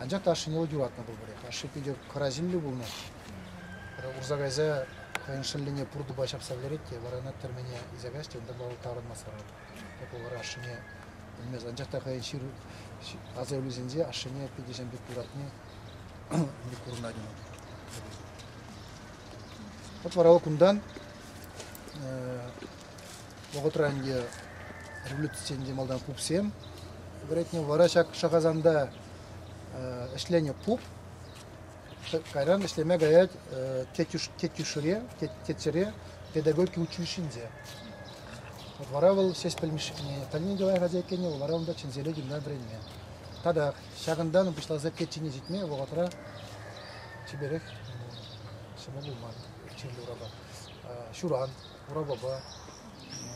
Анчах та ашшӗне вӑл юратнӑ пулпӑрех. Ашшӗ питӗ хӑрасимлӗ пулнӑ. Урса кайса хӑйӗн шӑллӗне пур тупа ҫапса вӗлерет те вара ӑна тӗрмене илсе каҫ те унта вӑл таврӑнмасӑрах тепӗр вара ашшӗне пӗлмест. Анчах та хӑйӗн ҫыр асаилӳсенче ашшӗне питӗ пек юратни курӑнать ӑна. От вара вӑл кунтан вӑхӑтра ӗнтӗ революцисен те малтан пупсем вӗретнӗ, вара ҫак Шахасанта ӗҫленӗ пуп. Кайран ӗҫлеме каять Тетюшре, Тетсере педагогика училищинче. Вара вӑл Сеспель Мишне пӗлни те лайӑх аса иккенне, вара унта чӗнселе гимна вӗренме. Татах ҫакӑнтан пуҫласа печени ҫитме вӑхӑтра чиперех ҫӑмӑл пулман чирлӗ урапа. Ҫуран Хурапапа.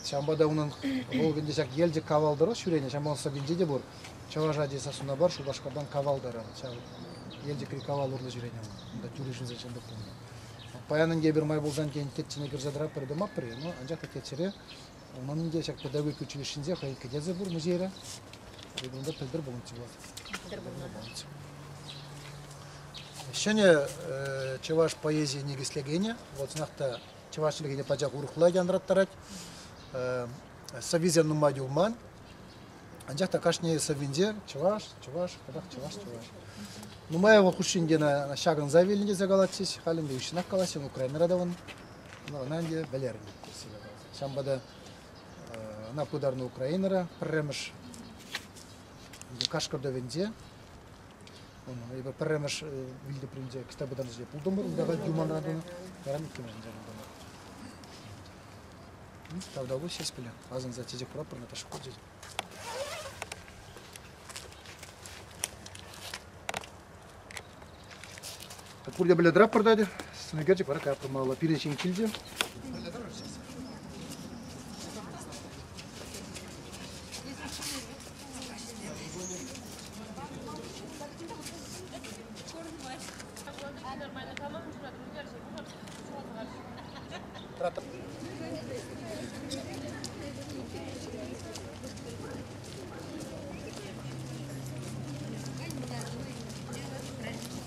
Ҫавӑнпа та унӑн вӑл ӗнтӗ ҫак Елчӗк кавал тӑрӑх ҫӳренӗ, ҫамрӑк сӑввинче те пур. Чӑваш ачи сассуна пар Шупашкартан кавал таран. Ҫав Елчӗкри кавал урлӑ ҫӳренӗ вӑл. Унта тӳрӗ ҫынсен ҫӑнтӑк пулнӑ. Паян ӗнтӗ эпир май пулсан тен теччӗне кӗрсе тӑратпӑр тӑмаппӑр-и, но анчах та теччӗре унӑн ӗнтӗ ҫак педагогика училищинче хӑй кӗтесӗ пур музейре. Эпир унта пӗлтӗр пулнӑччӗ вӑл. Пӗлтӗр пулнӑ. Ҫӗнӗ чӑваш поэзийӗ никӗслекенӗ, вӑл чӑнах та Чӑваш чӗлхине пачах урӑхла янраттарать. Сӑввисем нумай юлман. Анчах та кашни сӑввинче чӑваш, чӑваш, кӑпах чӑваш, чӑваш. Нумай вӑл хушшинче ҫакӑнса вилнӗ тесе калатчӗҫ. Халь ӗнтӗ уҫҫӑнах калаҫҫӗ, но Украинӑра та ун ӑна ӗнтӗ вӗлернӗ тесе калаҫҫӗ. Ҫавӑнпа та ӑна пытарнӑ Украинӑра пӗрремӗш Кашкӑртӑвӗнче Эпӗ пӗрремӗш Вилтепринче кӗтсе пытан ӗҫе пултӑмӑр. Унта та Юманра тунӑ, таран иккӗмӗш ӗнче пултӑмӑр. Тавда улӑ ҫеҫ пиле. Асӑнса чечек хуратпӑр, Наташа хучӗ. Пурте пӗле тӑраппӑр та сӑнӳкерчӗк вара капрӑмаллӑ пирӗн ҫын килчӗ. Тратып.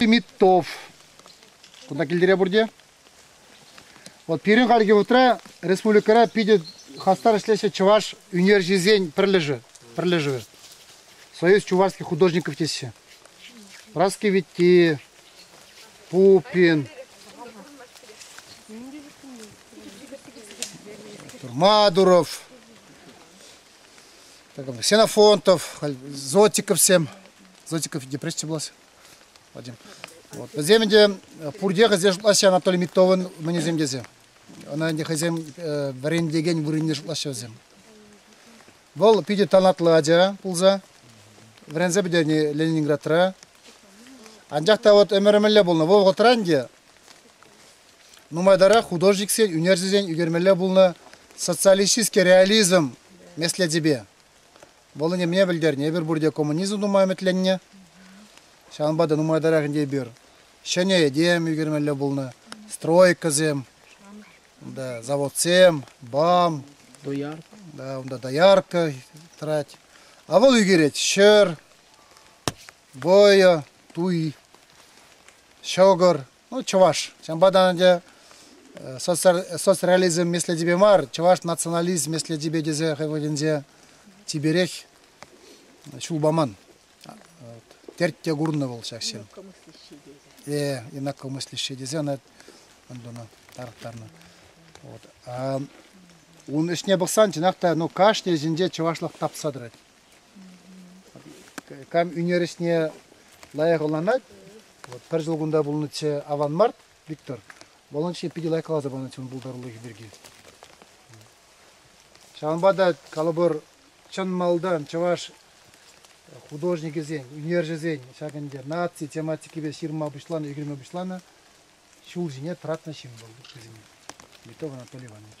Митов. Кунта килдере бурде. Вот пирӗн хальхи утра республикӑра питӗ хастар ӗҫлеҫҫӗ чӑваш ӳнерҫисен пӗрлешӗ. пӗрлешӗвӗ. Союз чувашских художников теҫҫӗ. Раскивитти, Пупин, Мадуров, Ксенофонтов, Зотиковсем. Зотиков депрессия булас. Вот. Вӗсем ӗнтӗ пурте хӑйсем шутлаҫҫӗ Анатолий Миттовӑн мӑнӗсем тесе. Ӑна ӗнтӗ хӑйсем вӗрентекен вырӑнне шутлаҫҫӗ вӗсем. Вӑл питӗ талантлӑ ача пулса вӗренсе пӗтернӗ Ленинградра. Анчах та вот ӗмӗр мӗнле пулнӑ? Вӑл вӑхӑтра ӗнтӗ Нумайтарах художниксен ӳнерҫӗсен ӳкермелле пулнӑ социалистический реализм меслечӗпе. Вӑл ӗненме пӗлтернӗ, эпир пурте коммунизм тума ӗмӗтленнӗ. Ҫавӑнпа та нумайтарах ӗнтӗ эпир ҫӗнӗ этем ӳкермелле пулнӑ, стройкӑсем, унта заводсем, БАМ, доярка, да, унта доярка тӑрать. А вӑл ӳкерет ҫӗр, вӑйӑ, туй, ҫӑкӑр, ну, чӑваш. Ҫавӑнпа та ӗнтӗ соцреализм меслетӗпе мар, чӑваш национализм меслетӗпе тесе хӑй вырӑнӗнче типерех ҫул паман. Терт курнӑ вӑл ҫак ҫын. Э, инакомыслящий тесе ӑна тунӑ, тарӑхтарнӑ. Вот. А, ун ӗҫне пӑхсан чӑнах та ну, кашни ӗҫӗнче чӑвашлӑх тапса тӑрать. Кам ӳнер ӗҫне лайӑх ӑнланать. Вот пӗр ҫул кунта пулнӑччӗ аван март, Виктор. Волонче питӗ лайӑх каласа панӑччӗ ун пултарулӑхӗ пирки. Ҫавӑнпа та калӑпӑр чӑн малтан чӑваш художникӗсен, ӳнерҫӗсен ҫак ӗнтӗ наци тематикипе ҫырма пуҫланӑ, ӳкерме пуҫланӑ ҫул ҫине тӑратнӑ ҫын вӑл вӗсене. Митов Анатолий Иванович.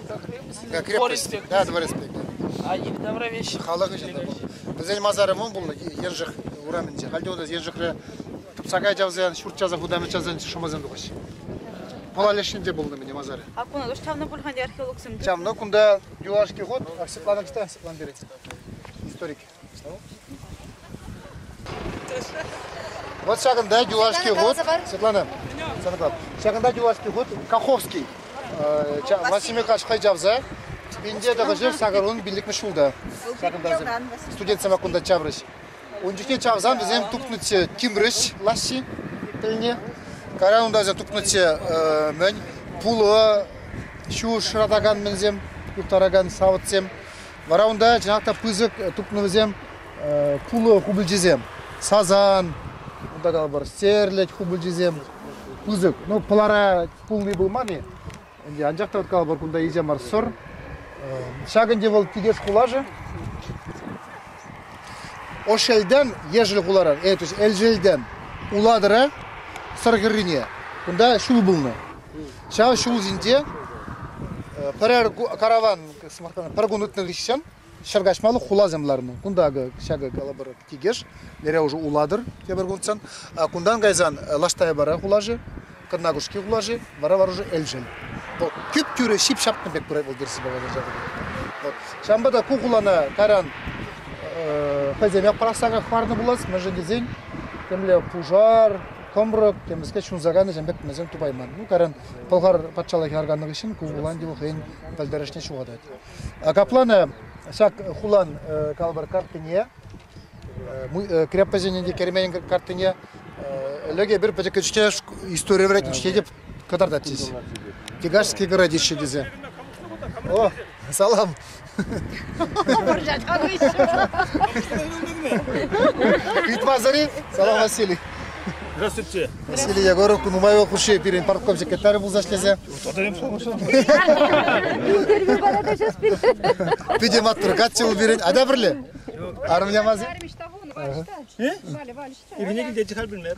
Как крепость? Да, дворецпек. А их добровольщик? Халӑх ӗҫӗ Вӗсен масарӗ мӑн пулнӑ Еншик урамӗнче. Хальте унта Еншикре сакай чавсан, ҫурт часа хутамет чавсан шӑмасем тухаҫҫӗ. Пӑла лешнинче пулнӑ мӗн масарӗ. А кун уж чавнӑ пулхан археологсем? Чавнӑ кунта юлашки хут Оксиплана кстати, Оксиплана перец. Историк. Вот ҫакӑнта юлашки хут, сырланам, сырлап. Ҫакӑнта юлашки хут Каховский Васимикаш хӑй чавса Инде тӑхӑшыр сакӑрун пиллӗкмӗш ҫулта. Ҫакӑнта студентсем кунта чаврӗҫ. Ун чухне чавсан вӗсем тупнӑччӗ тимрӗҫ лаҫҫи тӗлне. Кара унта аса тупнӑччӗ мӗн пулӑ, ҫу шыратакан мӗнсем, юхтаракан савӑтсем. Вара унта чӑнах та пысӑк тупнӑ вӗсем пулӑ хупӑлчисем. Сазан, унта калӑпӑр стерлядь хупӑлчисем пысӑк. Ну, пылара пулни пулман-и? Анчах та вот калӑпӑр кунта инҫе мар сӑр. Ҫак ӗнтӗ вӑл Кикеш хулашӗ. Ошелден ешӗл хуларан, э, то есть Элшелден улатӑра Сӑр хӗррине. Кунта ҫул пулнӑ. Ҫав ҫулсенче пӗрер караван, пӗр кун иртнӗ хыҫҫӑн ҫӗр каҫмалли хуласем ларнӑ. Кунта ҫакӑ калӑпӑр тикӗш, лере уже улатӑр тепӗр кунтсан. Кунтан кайсан Лаштайбара хулаши, Кӑрнакушки хулаши, вара Воронеж Элшел. Вӑл тӳп-тӳрӗ ҫип-ҫапнӑ пек пырать вӑл Персипа Воронежа пирки. Вот. Ҫавӑнпа та ку хулана кайран хӑйсем япӑрахсах хӑварнӑ пулас, мӗншӗн тесен темле пушар, Комрок темӗскер ҫунса кайнӑ ҫын пек мӗншӗн тупайман? Ну, кайран Пӑлхар патшалӑхӗ арканнӑ хыҫҫӑн ку Уланди хӑйӗн пӗлтерӗшне ҫухатать. Капла-на ҫак хулан калӑпӑр картине, крепоҫӗнӗн те керменӗн картине ӗлӗк эпир пӗчӗккӗн истори вӗретнӗ, ҫитетӗп. кӑтартатчӗҫ. Тягашский городище тесе. О, салам. Итмасари, салам Василий. Здравствуйте. Василий Егоров, нумай ел хуши пирӗн партком секретарь пулса эшлесе. Тотарем Питӗ маттур, качча ул пирӗн, ада бірле? Армия мази? Ивне килте чихал білмеді.